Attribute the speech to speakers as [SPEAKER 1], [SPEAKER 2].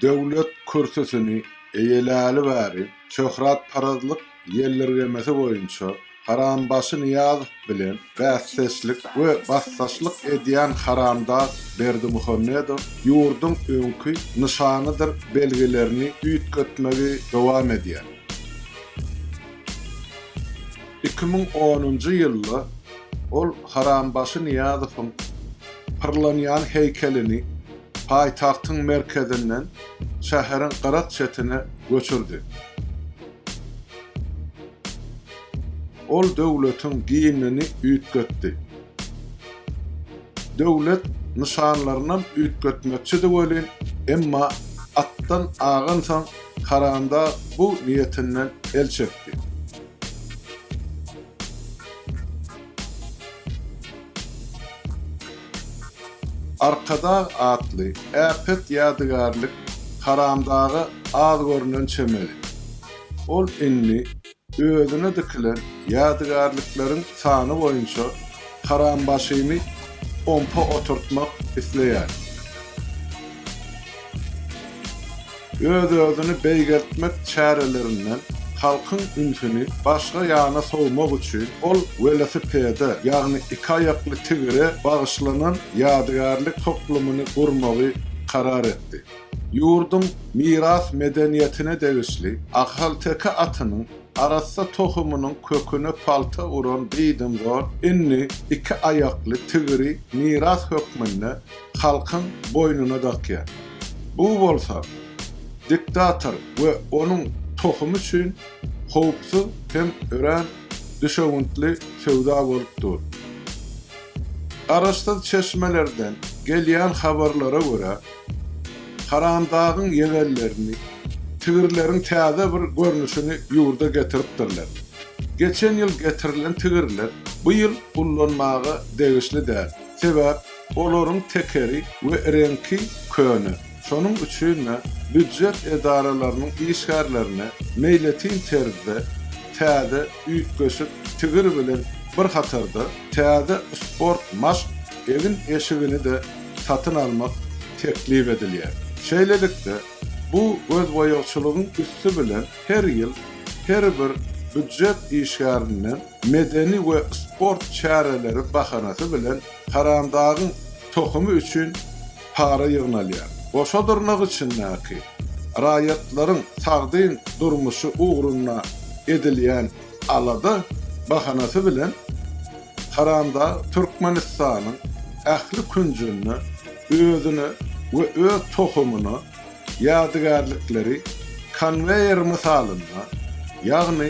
[SPEAKER 1] Döwlet kürsüsini eýeläli bäri şöhratparazlyk ýeldirgemesi boýunça Harambaşy Nyýazow bilen bäsdeşlik we basdaşlyk edýän haramdag Berdimuhamedow ýurduň öňki nyşanydyr belgilerini üýtgetmegi dowam edýär. Iki müň onunjy ýylda ol Harambaşy Nyýazowyň pyrlanýan heýkelini paýtagtyň merkezinden şäheriň gyrak çetine göçürdi. Ol döwletiň gimnini üýtgetdi. Döwlet nyşanlarynam üýtgetmekçidi welin, emma atdan agansoň Karandag bu niýetinden el çekdi. Arkadag atly äpet ýadygärlik Haramdaga az görnen çemeli. Ol indi özüne dikilen ýadygärlikleriň sany boýunça Harambaşyny ompa oturtmak isleýär. Öz-özüni beýgeltmek çärelerinden halkyň ünsüni başga ýana sowmak üçin ol welosipede, ýagny iki aýakly tigire bagyşlanan ýadygärlik toplumyny gurmagy karar etdi. Ýurduň miras medeniýetine degişli ahalteke atynyň arassa tohumynyň köküne palta uran diýdim zor indi iki aýakly tigiri miras hökmünde halkyň boýnuna dakýar. Bu bolsa diktator we onuň tohumy üçin howpsuz hem örän düşewüntli söwda bolup dur. Garaşsyz çeşmelerden gelýän habarlara görä, Haramdagyň ýegenlerini, tigirleriň täze bir görnüşini ýurda getiripdirler. Geçen ýyl getirilen tigirler bu ýyl ullanmaga degişli däl. Sebäp? Olaryň tekeri we reňki köne. Şonuň üçin-de býujet edaralarynyň işgärlerine meýletin terzde täze üýtgeşik tigir bilen bir hatarda täze sport maşk egin-eşigini-de satyn almak teklip edilýär. Şeýlelikde, bu gözboýagçylygyň üsti bilen her ýyl her bir býujet işgärinden medeni we sport çäreleri bahanasy bilen Haramdagyň tohumy üçin para ýygnalýar. Goşa dyrnak içindäki raýatlaryň sagdyn durmuşy ugrunda edilýän alada bahanasy bilen Haramdag Türkmenistanyň ähli künjünde özüne we öz tohumyna ýadygärlikleri konweýer mysalynda, ýagny,